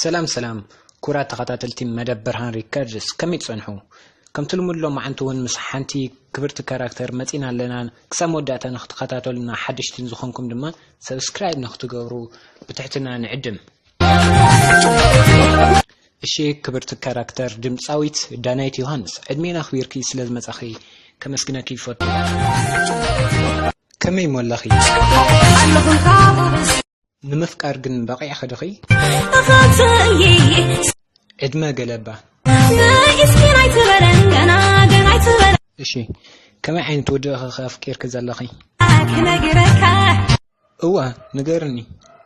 ሰላም ሰላም ኩራት ተኸታተልቲ መደብ ብርሃን ሪከርድስ ከመይ ትጸንሑ ከምቲ ልሙድ ሎ መዓንቲ እውን ምስ ሓንቲ ክብርቲ ካራክተር መፂና ኣለና ክሳብ መወዳእታ ንክትከታተሉና ሓደሽትን ዝኾንኩም ድማ ሰብስክራይብ ንክትገብሩ ብትሕትና ንዕድም እሺ ክብርቲ ካራክተር ድምፃዊት ዳናይት ዮሃንስ ዕድሜና ኣኽቢርኪ ስለ ዝመፃኺ ከመስግነኪ ይፈቱ ከመይ እሞ ኣለኺ? ንምፍቃር ግን በቒዕኺ ድኺ? ዕድመ ገለባ እሺ ከመይ ዓይነት ወዲ ኢኺ ኣፍቂርኪ ዘለኺ? እወ ንገርኒ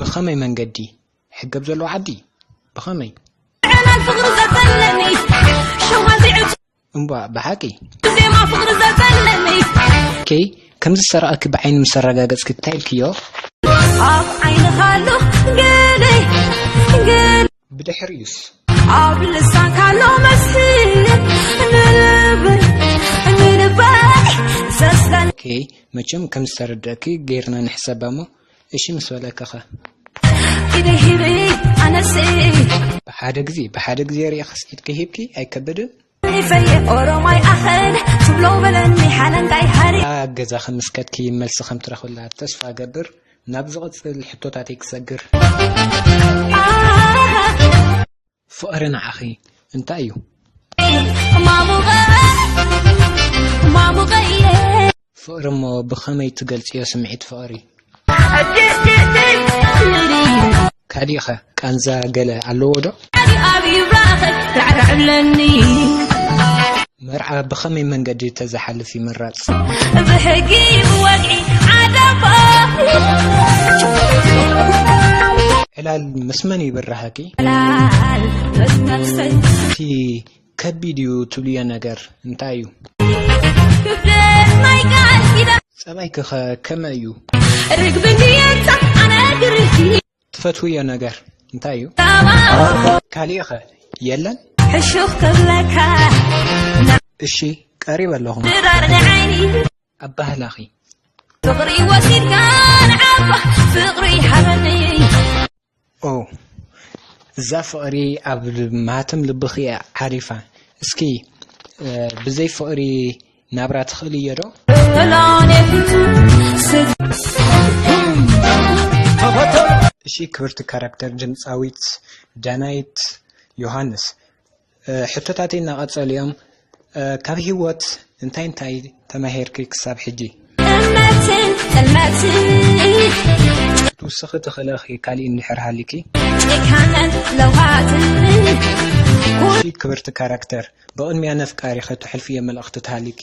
ብኸመይ መንገዲ ሕገብ ዘሎ ዓዲ ብኸመይ እምቧ ብሓቂ ከይ ከምዚ ሰረቐኪ ብዓይኒ ምስ ኣረጋገጽኪ እንታይ ኢልክዮ ኣብ ዓይንኻ ኣሎ ገለይ ብድሕሪኡስ። ኣብ ልሳንካ ኣሎ መልሲ ንልበይ ንልበይ ዘስለኒ ኦኬ መቸም ከም ዝተረደእኪ ገይርና ንሕሰባ እሞ እሺ ምስ በለክኸ ኢደይ ሂበይ ኣነሲ ብሓደ ግዜ ብሓደ ግዜ ርኢኽስ ኢድኪ ሂብኪ ኣይከብድን? ኣብ ገዛኺ ምስ ከድኪ መልሲ ከም ትረኽብላ ተስፋ እገብር። ናብ ዝቕጽል ሕቶታተይ ክሰግር። ፍቕሪ ንዓኺ እንታይ እዩ? ፍቕሪ እሞ ብኸመይ ትገልጽዮ ስምዒት ፍቕሪ? ካሊእኸ ቃንዛ ገለ ኣለዎ ዶ? መርዓ ብኸመይ መንገዲ ተዝሓልፍ ይምረጽ? ዕላል ምስ መን ይብራሃኪ? እቲ ከቢድ እዩ ትብልዮ ነገር እንታይ እዩ? ክብደት ናይ ቃል ኪዳን ጸባይኪ ከ ከመይ እዩ? ርግቢ እንድየ'ታ ኣነ ግርህቲ ትፈትውዮ ነገር እንታይ እዩ? ዳማ ካሊእ ከ የለን? ሕሹኽ ክብለካ እሺ ቀሪበ ኣለኹ ድራር ንዓይኒ ኣባህላኺ። ፍቕሪ ወሲድካ ንዓባ ፍቕሪ ሃበኒ ኦው እዛ ፍቅሪ ኣብ ማህተም ልብኺ እያ ዓሪፋ እስኪ ብዘይ ፍቅሪ ናብራ ትኽእል እዮ ዶ እሺ ክብርቲ ካራክተር ድምፃዊት ዳናይት ዮሃንስ ሕቶታተይ እናቐጸሉ እዮም። ካብ ህይወት እንታይ እንታይ ተማሂርኪ ክሳብ ሕጂ? እምነትን ጥልመትን ክትውስኺ ትኽእለኺ ካሊእ እንድሕር ሃሊኪ? ጭካነን ለውሃትን እሺ ክብርቲ ካራክተር ብቕድሚያ ነፍቃሪኺ ተሕልፍዮ መልእኽቲ ተሃሊኪ?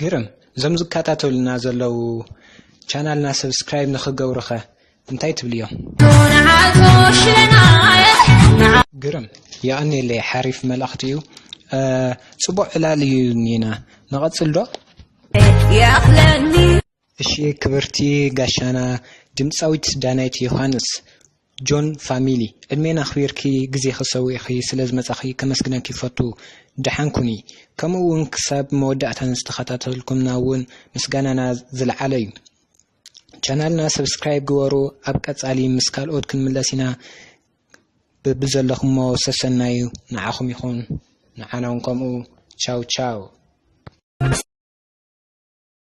ግርም እዞም ዝከታተሉና ዘለዉ ቻናልና ሰብስክራይብ ንክገብሩኸ እንታይ ትብልዮም? ግርም የቐኔለይ ሓሪፍ መልእኽቲ እዩ ፅቡቕ ዕላል እዩ ኒና ንቐፅል ዶ? እሺ ክብርቲ ጋሻና ድምጻዊት ዳናይት ዮሃንስ፣ ጆን ፋሚሊ፣ ዕድሜን ኣኽቢርኪ ግዜኺ ሰዊእኺ ስለ ዝመጻኺ ከመስግነኪ ይፈቱ። ደሓን ኩኒ። ከምኡ ውን ክሳብ መወዳእታ ንዝተኸታተልኩምና ውን ምስጋናና ዝለዓለ ዩ። ቻናልና ሰብስክራይብ ግበሩ። ኣብ ቀጻሊ ምስ ካልኦት ክንምለስ ኢና። በብዘለኹሞ ሰሰናዩ ንዓኹም ይኹን ንዓና ውን ከምኡ። ቻው ቻው።